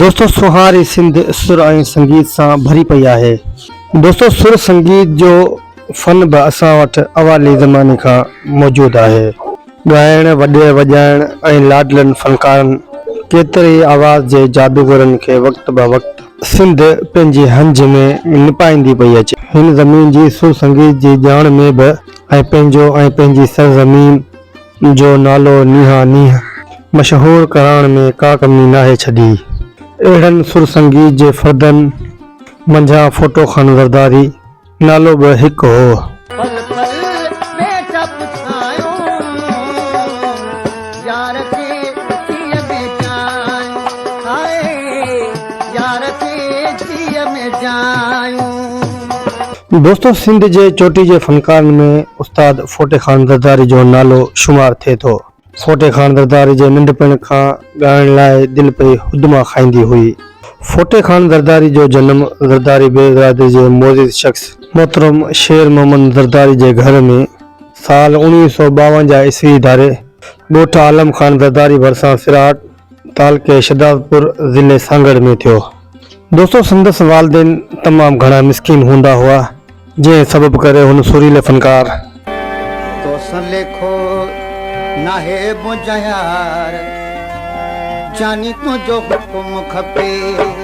دوستو سونهاري سنڌ سر ۽ سنگيت سان ڀري پئي آهي. دوستو سر سنگيت جو فن به اسان وٽ اوائلي زماني کان موجود آهي. ڳائڻ، وڄائڻ ۽ لاڏلن فنڪارن ڪيتري ئي آواز جي جادوگرن کي وقت به وقت سنڌ پنهنجي هنج ۾ نپائيندي پئي اچي. هن زمين جي سر سنگيت جي ڄاڻ ۾ به ۽ پنهنجو ۽ پنهنجي سرزمين جو نالو نيها نيهه مشهور ڪرائڻ ۾ ڪا ڪمي ناهي ڇڏي. اهڙن سر سنگيت جي فردن منجهان ڦوٽو خان زرداري نالو به هڪ هو. پل پل ۾ چپ ڇانيون يار کي جيء ۾ جايون هاء يار کي جيء ۾ جايون. دوستو سنڌ جي چوٽي جي فنڪارن ۾ استاد ڦوٽي خان زرداري جو نالو شمار ٿئي ٿو. ڦوٽي خان زرداري جي ننڍپڻ کان ڳائڻ لاء دل پئي هدما کائيندي هئي. ڦوٽي خان زرداري جو جنم زرداري بيگ برادري جي معزز شخص محترم شير محمد زرداري جي گهر ۾ سال اوڻويهه سؤ ٻاونجاهه عيسوي ڌاري ڳوٺ عالم خان زرداري ڀرسان سراهٽ، تعلقي شھدادپور ضلعي سانگھڙ ۾ ٿيو. دوستو سندس والدين تمام گھڻا مسڪين ھوندا ھئا جنھن سبب ڪري ھن سريلي فنڪار. توسان ليکو ناھي منھنجا يار جاني تنھنجو حڪم کپي.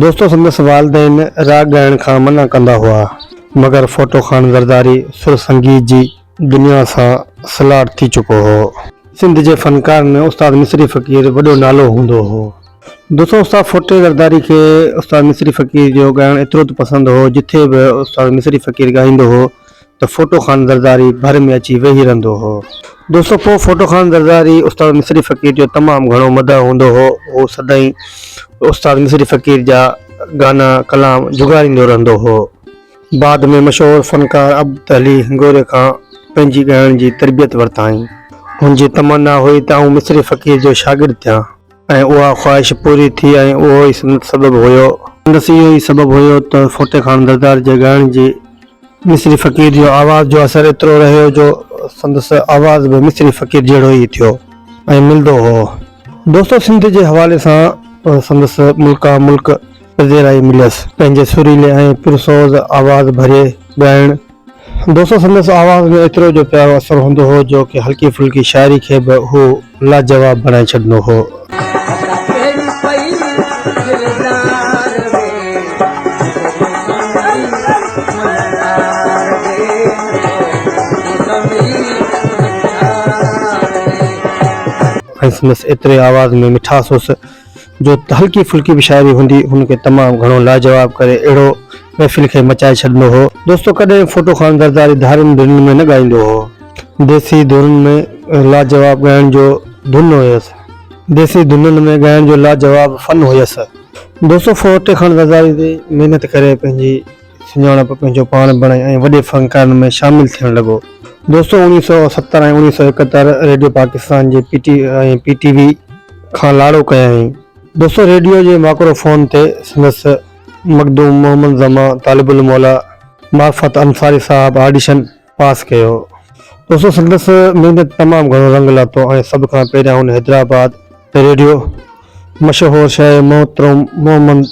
دوستو سندس والدين راڳ ڳائڻ کان منع ڪندا هئا، مگر ڦوٽو خان زرداري سر سنگيت جي دنيا سان سلهاڙ ٿي چڪو هو. سنڌ جي فنڪارن ۾ استاد مصري فقير وڏو نالو هوندو هو. دوستو استاد ڦوٽي زرداري کي استاد مصري فقير جو ڳائڻ ايترو ته پسند هو، جٿي به استاد مصري فقير ڳائيندو هو ته ڦوٽو خان زرداري ڀر ۾ اچي ويهي رهندو هو. دوستو پوء ڦوٽو خان زرداري استاد مصري فقير جو تمام گهڻو مداح هوندو هو. هو سدائين استاد مصري فقير جا گانا ڪلام جهڳاريندو رهندو هو. بعد ۾ مشهور فنڪار عبد علي هنگوري کان پنهنجي ڳائڻ جي تربيت ورتائين. هن جي تمنا هئي ته آئون مصري فقير جو شاگرد ٿيان. ۽ اها خواهش پوري ٿي ۽ اهو ئي سندس سبب هيو. سندس اهو ئي سبب هيو ته ڦوٽي خان زرداري جي ڳائڻ جي مصري فقير جي آواز جو اثر ايترو رهيو جو سندس آواز به مصري فقير جهڙو ئي ٿيو ۽ ملندو هو. دوستو سنڌ جي حوالي سان سندس ملڪان ملڪ پذيرائي مليس. پنهنجي سريلي ۽ پرسوز آواز ڀري ڳائڻ دوستو سندس آواز ۾ ايترو جو پيارو اثر هوندو هو جو ڪنهن هلڪي ڦلڪي شاعري کي به هو لاجواب بڻائي ڇڏندو هو. ۽ سندس ايتري آواز ۾ مٺاس هوس جو هلڪي ڦلڪي به شاعري هوندي هن کي تمام گهڻو لاجواب ڪري اهڙو محفل کي مچائي ڇڏندو هو. دوستو ڪڏهن ڦوٽو خان زرداري ڌارين ڌنن ۾ نه ڳائيندو هو. ديسي ڌنن ۾ لاجواب ڳائڻ جو ڌن هيس. ديسي ڌنن ۾ ڳائڻ جو لاجواب فن هيس. دوستو ڦوٽي خان زرداري جي محنت ڪري پنهنجي. سڃاڻپ پنهنجو پاڻ بڻائي ۽ وڏي فنڪارن ۾ شامل ٿيڻ لڳو. دوستو اوڻيهه سؤ ستر ۽ اوڻيهه سؤ ايڪهتر ريڊيو پاڪستان جي P T ۽ P T V کان لاڙو ڪيائين. دوستو ريڊيو جي ماڪرو فون تي سندس مخدوم محمد زمان طالب الموليٰ معرفت انصاري صاحب آڊيشن پاس ڪيو. دوستو سندس محنت تمام گهڻو رنگ لاتو ۽ سڀ کان پهريان هن حيدرآباد ريڊيو مشهور شاعر محترم محمد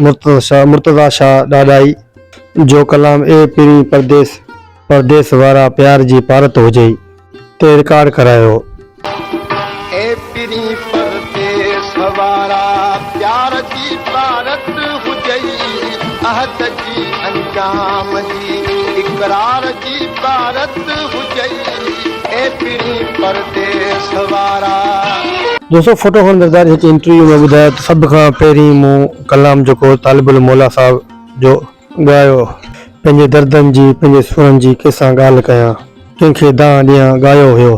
مرتضيٰ شاهه ڏاڏاهي جو ڪلام اي پرين پرديس پرديس وارا پيار جي پارت هجئي تي رڪارڊ ڪرايو. اي پرين پرديس وارا پيار جي پارت هجئي عهد جي انجام جي اقرار عبارت هجئي اي پڻي پرديس وارا. دوستو فوٽو کان نرداري هڪ انٽرويو ۾ ٻڌايو ته سڀ کان پهرين مون ڪلام جيڪو طالب علم موليٰ صاحب جو ڳايو پنهنجي دردن جي پنهنجي سورن جي ڪنهن سان ڳالهه ڪيان ڪنهن کي دانهن ڏيان ڳايو هيو.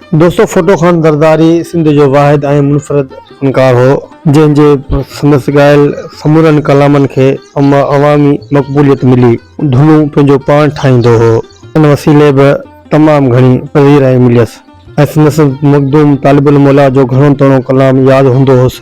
دوستو ڦوٽو خان زرداري سنڌ جو واحد ۽ منفرد فنڪار هو، جنهن جي سندس ڳايل سمورن ڪلامن کي عوامي مقبوليت ملي. ڌنون پنهنجو پاڻ ٺاهيندو هو، ان وسيلي به تمام گهڻي پذيرائي مليس ۽ سندس مخدوم طالب الموليٰ جو گهڻو تڻو ڪلام ياد هوندو هوس.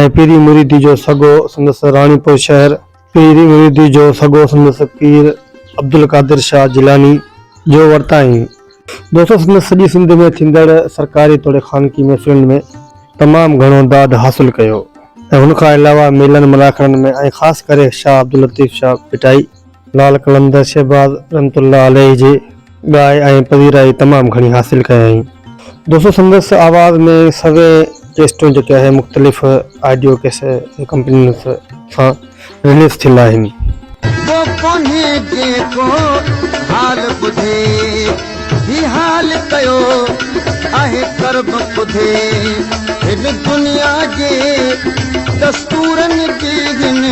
۽ پيري مريدي جو سگهو سندس راڻيپور شهر. پيري مريدي جو سگهو سندس پير عبدالقادر شاهه جيلاني جو ورتائين. دوستو سندس سڄي سنڌ ۾ ٿيندڙ سرڪاري توڙي خانگي محفلن ۾ تمام گهڻو داد حاصل ڪيو ۽ هن کان علاوه ميلن ملاکڙن ۾ ۽ خاص ڪري شاهه عبداللطيف شاهه ڀٽائي، لعل قلندر شهباز رحمت الله عليه جي ڳائي ۽ پذيرائي تمام گهڻي حاصل ڪيائين. دوستو سندس آواز ۾ سوين ڪيسٽون جيڪي آهي مختلف آڊيو ڪيس ڪمپنين سان رليز ٿيل آهن. ڪو ڪونهي جيڪو حال ٻڌي. هي حال ڪيو آهي ڪرب ٻڌي هن دنيا جي دستورن جي هن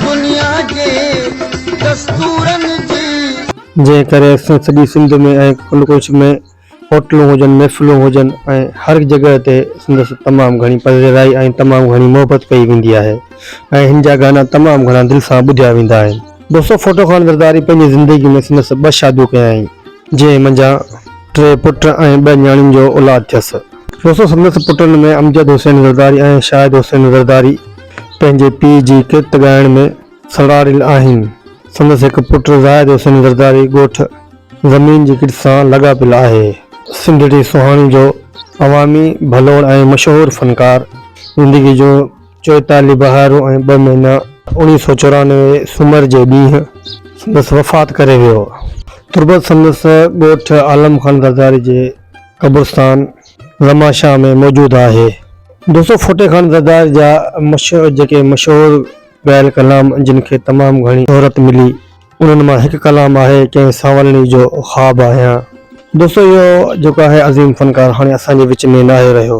دنيا جي دستورن جي. جنهن ڪري اڪثر سڄي سنڌ ۾ ۽ ڪنڊ ڪوش ۾ هوٽلون هجن محفلون هجن ۽ هر جڳهه تي سندس تمام گهڻي پذيرائي ۽ تمام گهڻي محبت ڪئي ويندي آهي ۽ هن جا گانا تمام گهڻا دل سان ٻڌيا ويندا آهن. دوستو ڦوٽو خان زرداري پنهنجي زندگي ۾ سندس ٻه شاديون ڪيائين، جنهن منجهان ٽي پٽ ۽ ٻه نياڻين جو اولاد ٿيس. دوستو سندس پٽن ۾ امجد حسين زرداري ۽ شاهد حسين زرداري پنهنجي پيء جي ڪرت ڳائڻ ۾ سڙاريل آهن. سندس هڪ پٽ زاهد حسين زرداري ڳوٺ زمين جي ڪرت سان لاڳاپيل آهي. سنڌڙي سهاڻي جو عوامي ڀلوڙ ۽ مشهور فنڪار زندگي جون. چوئيتاليهه بهارون ۽ ٻه مهينا. اوڻيهه سؤ چورانوي سومر جي ڏينهن سندس وفات ڪري ويو. تربت سندس ڳوٺ عالم خان زرداري جي قبرستان زمان شاهه ۾ موجود آهي. دوستو ڦوٽي خان زرداري جا جيڪي مشهور ڳايل ڪلام جن کي تمام گهڻي شهرت ملي انهن مان هڪ ڪلام آهي ڪنهن سانولڻي جو خواب آهيان. دوستو اهو جيڪو آهي عظيم فنڪار هاڻي اسان جي وچ ۾ ناهي رهيو.